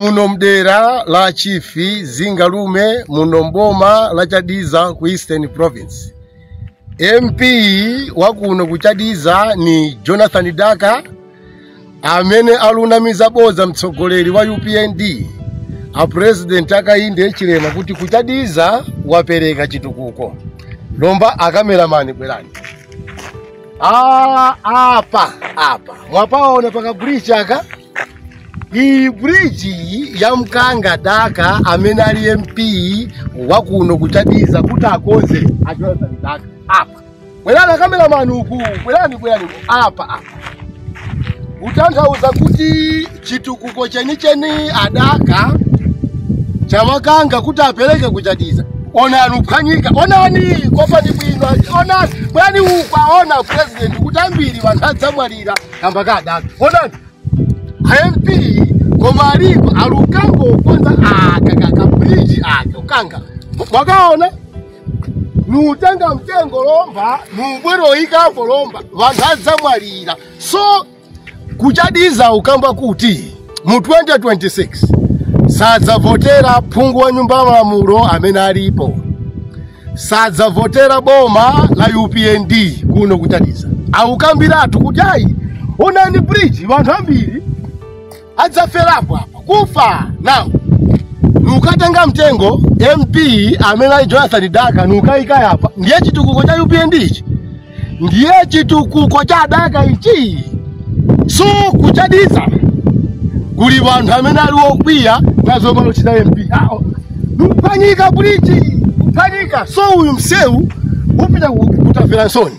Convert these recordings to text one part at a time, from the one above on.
muno mdera la chifi zingalume muno mboma la chadiza ku eastern province mp wakuno ku chadiza ni jonathan daka amene alunamiza bodza mtsogoleri wa upnd a president Hakainde Hichilema kuti ku Chadiza wapereka chitukuko lomba akameramani bwerani Ah, apa apa mwapaona paka bridge aka iyi bridge iyi yamkanga daka amene ali mp wa kuno kuchadiza kuti akonze a Jonathan Daka apa bwerani akameramani uku bwerani bwerani uku. apa apa kutanthauza kuti chitukuko chenicheni a Daka chawakanga kuti apereke kuchadiza onani kuphwanyika onani kopani bwino onani bwerani mukuona president kuti ambiri wanthu adzamwalira kamba ka a Daka onani a MP koma alipo alukanga ukonza aka kaka bridge aka ukanga mwakaona nuutenga mtengo lomba nuubwero ikapo lomba wanthu adzamwalira so kuchadiza ukamba kuti mu 2026 sadzavotera phungu wa nyumba ya malamulo amene alipo sadzavotera boma la upnd kuno kuchadiza akukambiratu kuti ayi onani bridge wanthu ambiri adzaferapo apa kufa now nukatenga mtengo mp amene ali jonathan daka nukayika apa ndiye chitukuko cha upnd ichi ndiye chitukuko cha a Daka ichi so kuchadiza kuli wanthu amene ali okwiya nazo zomwe achita mp awo nuphwanyika bridge kuphwanyika so uyu msewu upita ku- ku Tafelansoni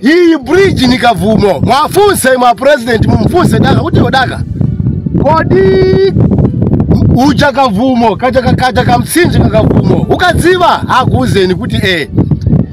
iyi bridge ni kavumo muwafunse mwa president mumfunse daka kuti a Daka kodi uja kavumo kaja kakaja kamtsinje kakavumo ukadziwa akuuzeni kuti eh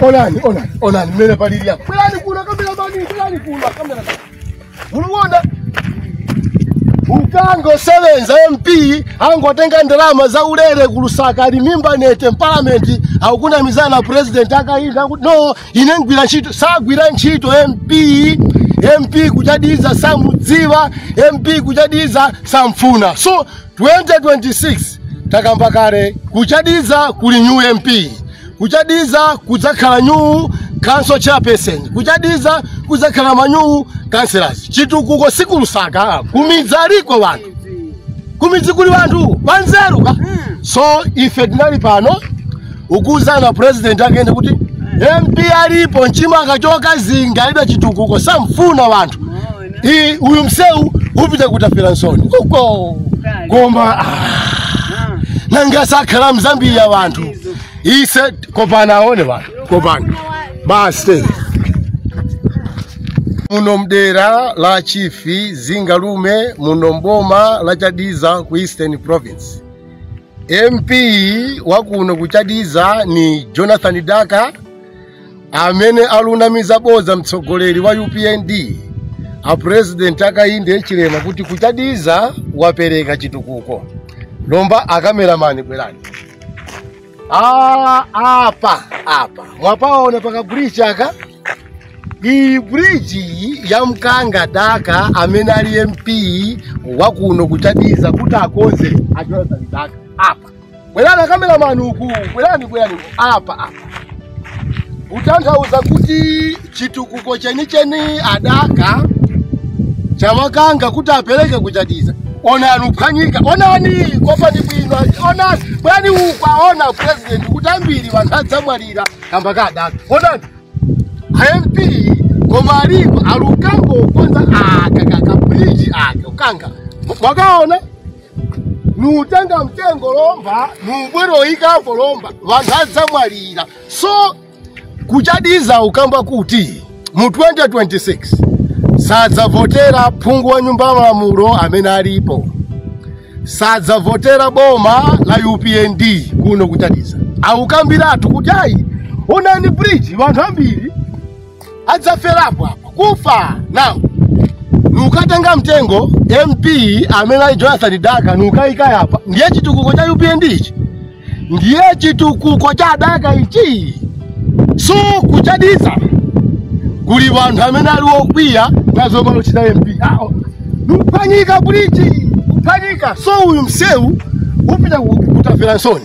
Onani, onani, onani mmene palili apa. Bwerani kuno akameramani, bwerani kuno akamera. Muluona? Ukanga usevenza MP angotenga ndalama zaulere kulusaka ali mimba nee te parliament akukunamizani president Hakainde kuti no ine ngwira ntchito sagwira ntchito MP MP kuchadiza samudziwa MP kuchadiza samfuna so 2026 takamba kale kuchadiza kuli new mp kuchadiza kudzakhala new council chairperson kuchadiza kudzakhala manyuu councillors chitukuko sikulusaka kumidzaliko wanthu kumidzi kuli wanthu wanzeru ka so ife tinali pano ukuzana president akende kuti mp alipo mchimanga chokazinga alibe chitukuko samfuna wanthu Hii huyu mseu upita kutafira nsoni uko koma ah, nanga sakhala mzambiri ya wanthu ise kopana aone wanthu kopana basi muno mdera la chifi zingalume muno mboma la chadiza ku eastern province mp wakuno ku chadiza ni jonathan daka amene alunamiza bodza mtsogoleri wa upnd a president Hakainde Hichilema kuti kuchadiza wapereka chitukuko lomba akameramani bwerani Ah, apa apa mwapaona paka bridge aka iyi bridge iyi yamkanga daka amene ali mp wakuno kuchadiza kuti akonze a Jonathan Daka apa Bwerani akameramani uku, bwerani bwerani uku. apa apa. Kutanthauza kuti chitukuko chenicheni adaka chawakanga kuti apereke kuchadiza. Onani uphwanyika, onani kopani bwino, onani bwerani uku aone president kuti ambiri anthu adzamwalira kamba ka adaka. Onani mp koma alipo alukanga ukonza aka kakabridge aka ukanga mwakaona nutenga mtengo lomba nubweroyikapo lomba vanthu adzamwalira so kuchadiza ukamba kuti mu 2026 sadzavotera phungu wa nyumba ya malamulo amene alipo sadzavotera boma la upnd kuno kuchadiza awukambiratu kuti ayi onani bridge vanthu ambiri adzaferapo apa kufa nawo nukatenga mtengo mp amene ali jonathan daka nukayika apa ndiye chitukuko cha upnd ichi ndiye chitukuko cha daka ichi so kuchadiza kuli vanthu amene ali okwiya nazo waluchita mp awo nuphwanyika bridge uphwanyika so uyu msewu upita kutafelansoni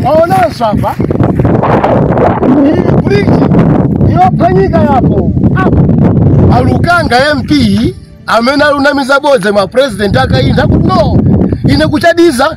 Mwaonanso apa iyi bridge yophwanyika yapo apo alukanga mp amene alunamiza bodza wa president akainde kuti no ine kuchadiza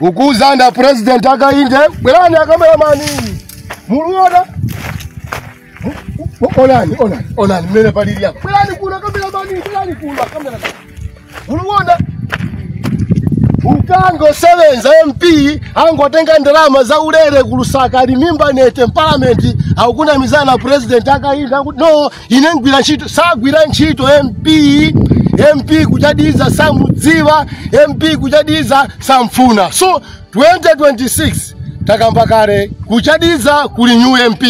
ukuuzani a president akainde bwerani akameramani muluona Mu- mu- onani onani onani mmene palili apa bwerani kuno akameramani bwerani kuno akameramani muluona ukanga usebenza mp angotenga ndalama za ulere ku lusaka ali mimba nete mpalamenti akukunamizani a president akainde kuti no ine ngwira ntchito sagwira ntchito mp mp kuchadiza samudziwa mp kuchadiza samfuna so 2026 takamba kale kuchadiza kuli new mp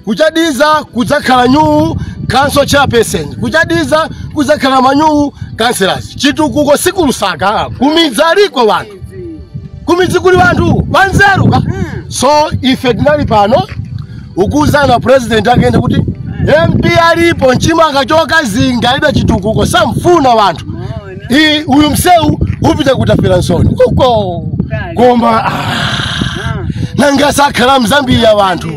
kuchadiza kudzakhala new council chairperson kuchadiza kudzakhala ma new councillors chitukuko si kulusaka kumidzi aliko wanthu kumidzi kuli wanthu wanzeru ka so ife tinali pano ukuuzani a president akainde kuti mp alipo nchimanga chokazinga alibe chitukuko samfuna wanthu I- uyu msewu upita kutafelansoni uko koma ah, nanga sakhala mzambia wanthu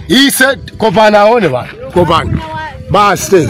ise kopani aone wanthu kopani basi